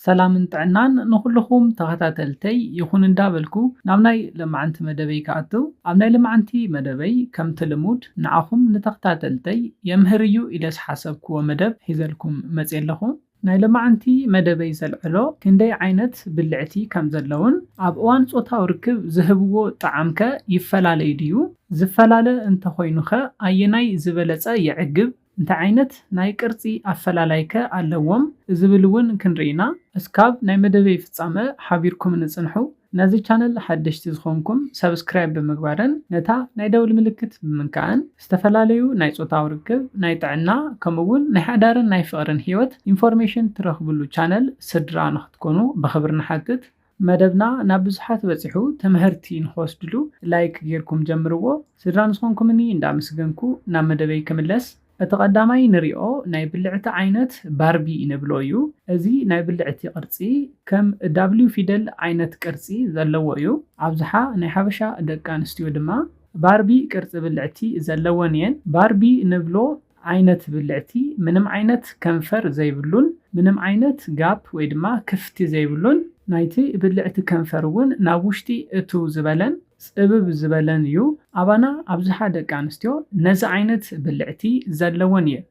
ሰላምን ጥዕናን ንኹሉኹም ተኸታተልተይ ይኹን እንዳበልኩ ናብ ናይ ለማዓንቲ መደበይ ክኣቱ ኣብ ናይ ልማዓንቲ መደበይ ከምቲ ልሙድ ንዓኹም ንተኽታተልተይ የምህር እዩ ኢለ ዝሓሰብክዎ መደብ ሒዘልኩም መጽየ ኣለኹ። ናይ ለማዓንቲ መደበይ ዘልዕሎ ክንደይ ዓይነት ብልዕቲ ከም ዘለዉን ኣብ እዋን ጾታዊ ርክብ ዝህብዎ ጣዓም ከ ይፈላለ እዩ ድዩ? ዝፈላለ እንተኾይኑ ከ ኣየናይ ዝበለጸ የዕግብ? እንታይ ዓይነት ናይ ቅርጺ ኣፈላላይከ ኣለዎም ዝብል ውን ክንርኢ ኢና እስካብ ናይ መደበይ ፍጻመ ሓቢርኩምኒ ጽንሑ ነዚ ቻነል ሓደሽቲ ዝኮንኩም subscribe ብምግባርን ነታ ናይ ደውል ምልክት ብምንካእን ዝተፈላለዩ ናይ ጾታዊ ርክብ ናይ ጥዕና ከምኡ ውን ናይ ሓዳርን ናይ ፍቅርን ሂወት ኢንፎርሜሽን ትረክብሉ ቻነል ስድራ ንክትኮኑ ብክብሪ ንሓትት መደብና ናብ ብዙሓት በጺሑ ተመሀርቲ ንክወስድሉ ላይክ ጌርኩም ጀምርዎ ስድራ ንዝኮንኩምኒ እንዳ ኣመስገንኩ ናብ መደበይ ክምለስ እቲ ቀዳማይ ንሪኦ ናይ ብልዕቲ ዓይነት ባርቢ ንብሎ እዩ እዚ ናይ ብልዕቲ ቅርጺ ከም ዳብሊው ፊደል ዓይነት ቅርጺ ዘለዎ እዩ ኣብዝሓ ናይ ሓበሻ ደቂ ኣንስትዮ ድማ ባርቢ ቅርጺ ብልዕቲ ዘለወን እየን ባርቢ ንብሎ ዓይነት ብልዕቲ ምንም ዓይነት ከንፈር ዘይብሉን ምንም ዓይነት ጋፕ ወይ ድማ ክፍቲ ዘይብሉን፣ ናይቲ ብልዕቲ ከንፈር እውን ናብ ውሽጢ እትው ዝበለን ጽብብ ዝበለን እዩ፣ ኣባና ኣብዝሓ ደቂ ኣንስትዮ ነዚ ዓይነት ብልዕቲ ዘለወን እየን።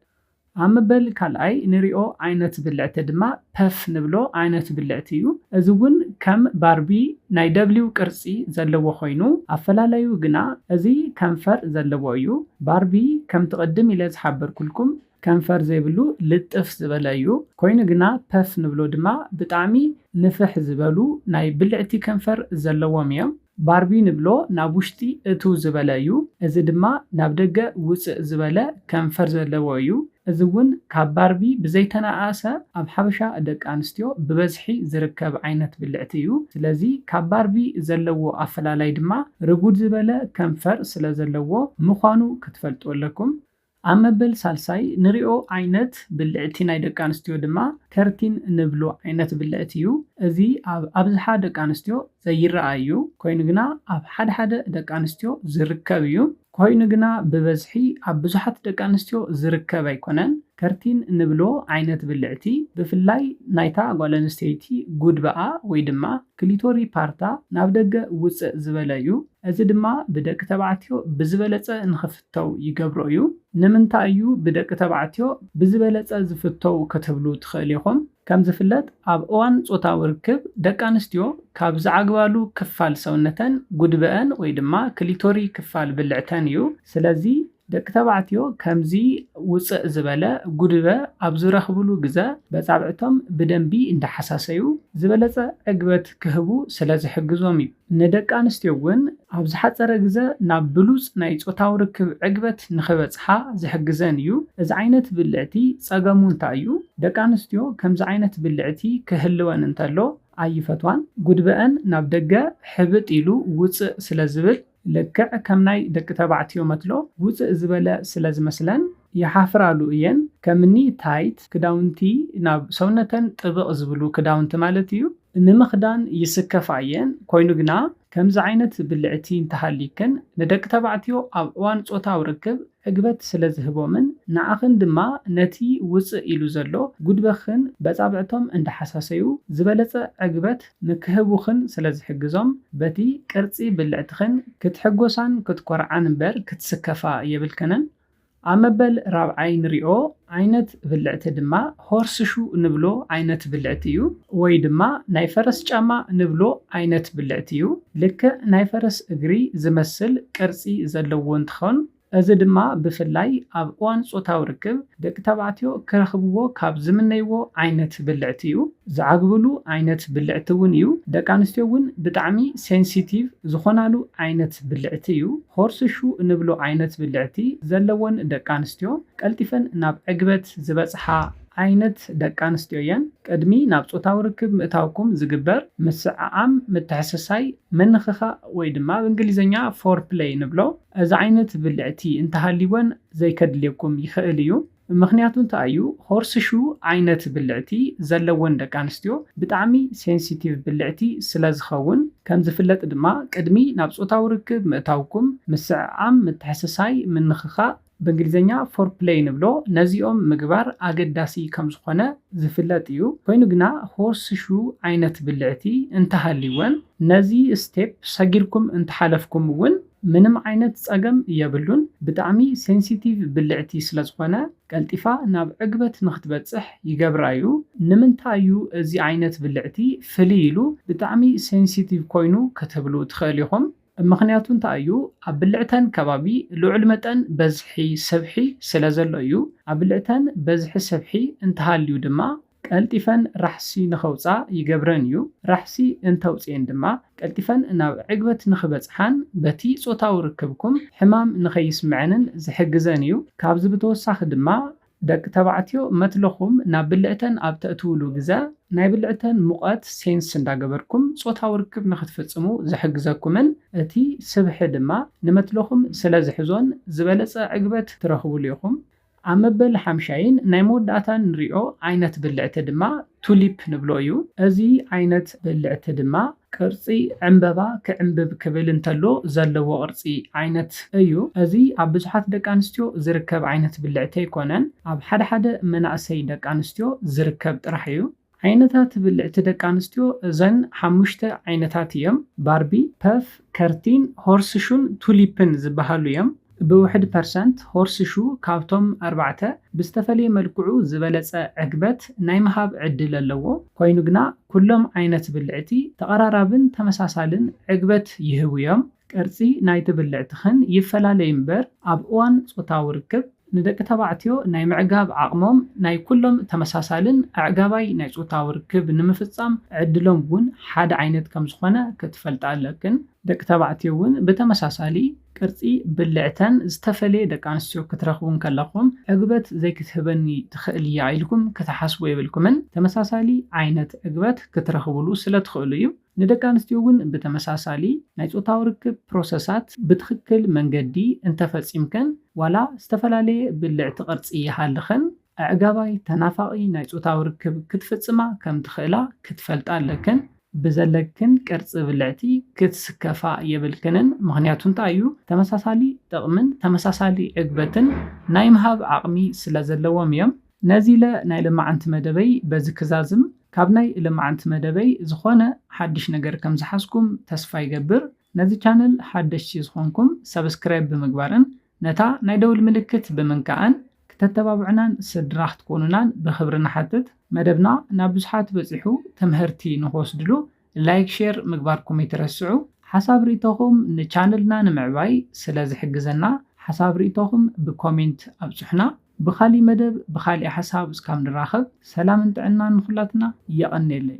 ኣብ ምበል ካልኣይ ንሪኦ ዓይነት ብልዕቲ ድማ ፐፍ ንብሎ ዓይነት ብልዕቲ እዩ። እዚ እውን ከም ባርቢ ናይ ደብሊው ቅርጺ ዘለዎ ኮይኑ፣ ኣፈላላዩ ግና እዚ ከንፈር ዘለዎ እዩ። ባርቢ ከምቲ ቅድም ኢለ ዝሓበርኩልኩም ከንፈር ዘይብሉ ልጥፍ ዝበለ እዩ። ኮይኑ ግና ፐፍ ንብሎ ድማ ብጣዕሚ ንፍሕ ዝበሉ ናይ ብልዕቲ ከንፈር ዘለዎም እዮም። ባርቢ ንብሎ ናብ ውሽጢ እትው ዝበለ እዩ፣ እዚ ድማ ናብ ደገ ውጽእ ዝበለ ከንፈር ዘለዎ እዩ፣ እዚ እውን ካብ ባርቢ ብዘይተነኣኣሰ ኣብ ሓበሻ ደቂ ኣንስትዮ ብበዝሒ ዝርከብ ዓይነት ብልዕቲ እዩ፣ ስለዚ ካብ ባርቢ ዘለዎ ኣፈላላይ ድማ ርጉድ ዝበለ ከንፈር ስለዘለዎ ምዃኑ ክትፈልጡ ኣለኩም። ኣብ መበል ሳልሳይ ንሪኦ ዓይነት ብልዕቲ ናይ ደቂ ኣንስትዮ ድማ ከርቲን እንብሎ ዓይነት ብልዕቲ እዩ። እዚ ኣብ ኣብዝሓ ደቂ ኣንስትዮ ዘይረኣ እዩ። ኮይኑ ግና ኣብ ሓደ ሓደ ደቂ ኣንስትዮ ዝርከብ እዩ። ኮይኑ ግና ብበዝሒ ኣብ ብዙሓት ደቂ ኣንስትዮ ዝርከብ ኣይኮነን። ከርቲን እንብሎ ዓይነት ብልዕቲ ብፍላይ ናይታ ጓል ኣንስተይቲ ጉድባኣ ወይ ድማ ክሊቶሪ ፓርታ ናብ ደገ ውፅእ ዝበለ እዩ። እዚ ድማ ብደቂ ተባዕትዮ ብዝበለፀ ንክፍት። ፍተው ይገብሮ እዩ። ንምንታይ እዩ ብደቂ ተባዕትዮ ብዝበለጸ ዝፍተው ክትብሉ ትኽእል ኢኹም። ከም ዝፍለጥ ኣብ እዋን ጾታዊ ርክብ ደቂ ኣንስትዮ ካብ ዝዓግባሉ ክፋል ሰውነተን ጉድበአን ወይ ድማ ክሊቶሪ ክፋል ብልዕተን እዩ። ስለዚ ደቂ ተባዕትዮ ከምዚ ውጽእ ዝበለ ጉድበ ኣብ ዝረኽብሉ ግዘ በጻብዕቶም ብደንቢ እንዳሓሳሰዩ ዝበለጸ ዕግበት ክህቡ ስለ ዝሕግዞም እዩ። ንደቂ ኣንስትዮ እውን ኣብ ዝሓጸረ ግዘ ናብ ብሉጽ ናይ ጾታዊ ርክብ ዕግበት ንኽበጽሓ ዝሕግዘን እዩ። እዚ ዓይነት ብልዕቲ ጸገሙ እንታይ እዩ? ደቂ ኣንስትዮ ከምዚ ዓይነት ብልዕቲ ክህልወን እንተሎ ኣይፈትዋን። ጉድበኣን ናብ ደገ ሕብጥ ኢሉ ውጽእ ስለ ዝብል፣ ልክዕ ከም ናይ ደቂ ተባዕትዮ መትሎ ውጽእ ዝበለ ስለ ዝመስለን፣ ይሓፍራሉ እየን ከምኒ ታይት ክዳውንቲ ናብ ሰውነተን ጥብቕ ዝብሉ ክዳውንቲ ማለት እዩ ንምኽዳን ይስከፋ እየን ኮይኑ ግና ከምዚ ዓይነት ብልዕቲ እንተሃልይክን ንደቂ ተባዕትዮ ኣብ እዋን ጾታዊ ርክብ ዕግበት ስለዝህቦምን ንዓኽን ድማ ነቲ ውጽእ ኢሉ ዘሎ ጉድበኽን በጻብዕቶም እንዳሓሳሰዩ ዝበለጸ ዕግበት ንክህቡኽን ስለዝሕግዞም በቲ ቅርጺ ብልዕትኽን ክትሕጎሳን ክትኮርዓን እምበር ክትስከፋ የብልክንን ኣብ መበል ራብዓይ ንሪኦ ዓይነት ብልዕቲ ድማ ሆርስሹ ንብሎ ዓይነት ብልዕቲ እዩ። ወይ ድማ ናይ ፈረስ ጫማ ንብሎ ዓይነት ብልዕቲ እዩ። ልክዕ ናይ ፈረስ እግሪ ዝመስል ቅርፂ ዘለዎ እንትኾን እዚ ድማ ብፍላይ ኣብ እዋን ፆታዊ ርክብ ደቂ ተባዕትዮ ክረኽብዎ ካብ ዝምነይዎ ዓይነት ብልዕቲ እዩ። ዝዓግብሉ ዓይነት ብልዕቲ እውን እዩ። ደቂ ኣንስትዮ እውን ብጣዕሚ ሴንሲቲቭ ዝኾናሉ ዓይነት ብልዕቲ እዩ። ሆርስ ሹ እንብሎ ዓይነት ብልዕቲ ዘለወን ደቂ ኣንስትዮ ቀልጢፈን ናብ ዕግበት ዝበፅሓ ዓይነት ደቂ ኣንስትዮ እየን። ቅድሚ ናብ ፆታዊ ርክብ ምእታውኩም ዝግበር ምስዕዓም፣ ምትሕስሳይ፣ ምንኽኻእ ወይ ድማ ብ እንግሊዘኛ Foreplay ንብሎ እዚ ዓይነት ብልዕቲ እንተሃልይወን ዘይከድልየኩም ይኽእል እዩ። ምኽንያቱ እንታይ እዩ ሆርስሹ ዓይነት ብልዕቲ ዘለወን ደቂ ኣንስትዮ ብጣዕሚ ሴንሲቲቭ ብልዕቲ ስለዝኸውን ከምዝፍለጥ ድማ ቅድሚ ናብ ፆታዊ ርክብ ምእታውኩም ምስዕዓም ምትሕስሳይ ምንኽኻእ ብእንግሊዝኛ Foreplay ንብሎ ነዚኦም ምግባር ኣገዳሲ ከምዝኾነ ዝፍለጥ እዩ ኮይኑ ግና ሆርስሹ ዓይነት ብልዕቲ እንተሃልይወን ነዚ ስቴፕ ሰጊርኩም እንተሓለፍኩም እውን ምንም ዓይነት ጸገም የብሉን ብጣዕሚ ሴንሲቲቭ ብልዕቲ ስለ ዝኾነ ቀልጢፋ ናብ ዕግበት ንኽትበጽሕ ይገብራ ዩ ንምንታይ ዩ እዚ ዓይነት ብልዕቲ ፍልይ ኢሉ ብጣዕሚ ሴንሲቲቭ ኮይኑ ክትብሉ ትኽእል ኢኹም ምኽንያቱ እንታይ ዩ ኣብ ብልዕተን ከባቢ ልዑል መጠን በዝሒ ሰብሒ ስለ ዘሎ ዩ ኣብ ብልዕተን በዝሒ ሰብሒ እንተሃልዩ ድማ ቀልጢፈን ራሕሲ ንኸውጽኣ ይገብረን እዩ፣ ራሕሲ እንተውጽኤን ድማ ቀልጢፈን ናብ ዕግበት ንኽበጽሓን በቲ ጾታዊ ርክብኩም ሕማም ንኸይስምዐንን ዝሕግዘን እዩ። ካብዚ ብተወሳኺ ድማ ደቂ ተባዕትዮ መትሎኹም ናብ ብልዕተን ኣብ ተእትዉሉ ግዘ ናይ ብልዕተን ሙቐት ሴንስ እንዳገበርኩም ጾታዊ ርክብ ንኽትፍጽሙ ዝሕግዘኩምን እቲ ስብሒ ድማ ንመትሎኹም ስለዝሕዞን ዝበለጸ ዕግበት ትረኽቡሉ ኢኹም። ኣብ መበል ሓምሻይን ናይ መወዳእታን ንሪኦ ዓይነት ብልዕቲ ድማ ቱሊፕ ንብሎ እዩ። እዚ ዓይነት ብልዕቲ ድማ ቅርፂ ዕምበባ ክዕምብብ ክብል እንተሎ ዘለዎ ቅርፂ ዓይነት እዩ። እዚ ኣብ ብዙሓት ደቂ ኣንስትዮ ዝርከብ ዓይነት ብልዕቲ ኣይኮነን። ኣብ ሓደ ሓደ መናእሰይ ደቂ ኣንስትዮ ዝርከብ ጥራሕ እዩ። ዓይነታት ብልዕቲ ደቂ ኣንስትዮ እዘን ሓሙሽተ ዓይነታት እየም፣ ባርቢ፣ ፐፍ፣ ከርቲን፣ ሆርስሹን ቱሊፕን ዝበሃሉ እዮም። ብውሕድ ፐርሰንት ሆርስሹ ካብቶም ኣርባዕተ ብዝተፈለየ መልክዑ ዝበለጸ ዕግበት ናይ ምሃብ ዕድል ኣለዎ፣ ኮይኑ ግና ኩሎም ዓይነት ብልዕቲ ተቐራራብን ተመሳሳልን ዕግበት ይህቡ እዮም። ቅርጺ ናይቲ ብልዕቲ ኽን ይፈላለይ እምበር ኣብ እዋን ጾታዊ ርክብ ንደቂ ተባዕትዮ ናይ ምዕጋብ ዓቕሞም ናይ ኩሎም ተመሳሳልን ኣዕጋባይ ናይ ጾታዊ ርክብ ንምፍጻም ዕድሎም እውን ሓደ ዓይነት ከም ዝኾነ ክትፈልጣ ኣለክን። ደቂ ተባዕትዮ እውን ብተመሳሳሊ ቅርጺ ብልዕተን ዝተፈለየ ደቂ ኣንስትዮ ክትረኽቡ እንከለኹም ዕግበት ዘይክትህበኒ ትኽእል እያ ኢልኩም ክትሓስቡ የብልኩምን ተመሳሳሊ ዓይነት ዕግበት ክትረኽቡሉ ስለ ትኽእሉ እዩ። ንደቂ ኣንስትዮ እውን ብተመሳሳሊ ናይ ፆታዊ ርክብ ፕሮሰሳት ብትኽክል መንገዲ እንተፈፂምከን ዋላ ዝተፈላለየ ብልዕቲ ቅርፂ ይሃልኸን ኣዕጋባይ ተናፋቒ ናይ ፆታዊ ርክብ ክትፍፅማ ከምትኽእላ ክትፈልጣ ኣለክን። ብዘለክን ቅርፂ ብልዕቲ ክትስከፋ የብልክንን ምኽንያቱ እንታይ እዩ ተመሳሳሊ ጥቕምን ተመሳሳሊ ዕግበትን ናይ ምሃብ ዓቕሚ ስለዘለዎም እዮም። ነዚለ ናይ ልማዓንቲ መደበይ በዚ ክዛዝም ካብ ናይ ልማዓንቲ መደበይ ዝኮነ ሓድሽ ነገር ከም ዝሓዝኩም ተስፋ ይገብር ነዚ ቻነል ሓደሽቲ ዝኮንኩም ሰብስክራይብ ብምግባርን ነታ ናይ ደውል ምልክት ብምንካእን ክተተባብዑናን ስድራ ክትኮኑናን ብክብሪ ንሓትት መደብና ናብ ብዙሓት በጺሑ ትምህርቲ ንክወስድሉ ላይክ ሼር ምግባርኩም ኣይትረስዑ። ሓሳብ ሪኢቶኹም ንቻነልና ንምዕባይ ስለ ዝሕግዘና ሓሳብ ሪኢቶኹም ብኮሜንት ኣብፁሑና። ብኻሊእ መደብ ብኻሊእ ሓሳብ እስካብ ንራኸብ ሰላምን ጥዕናን ንኹላትና። የቐኔለይ።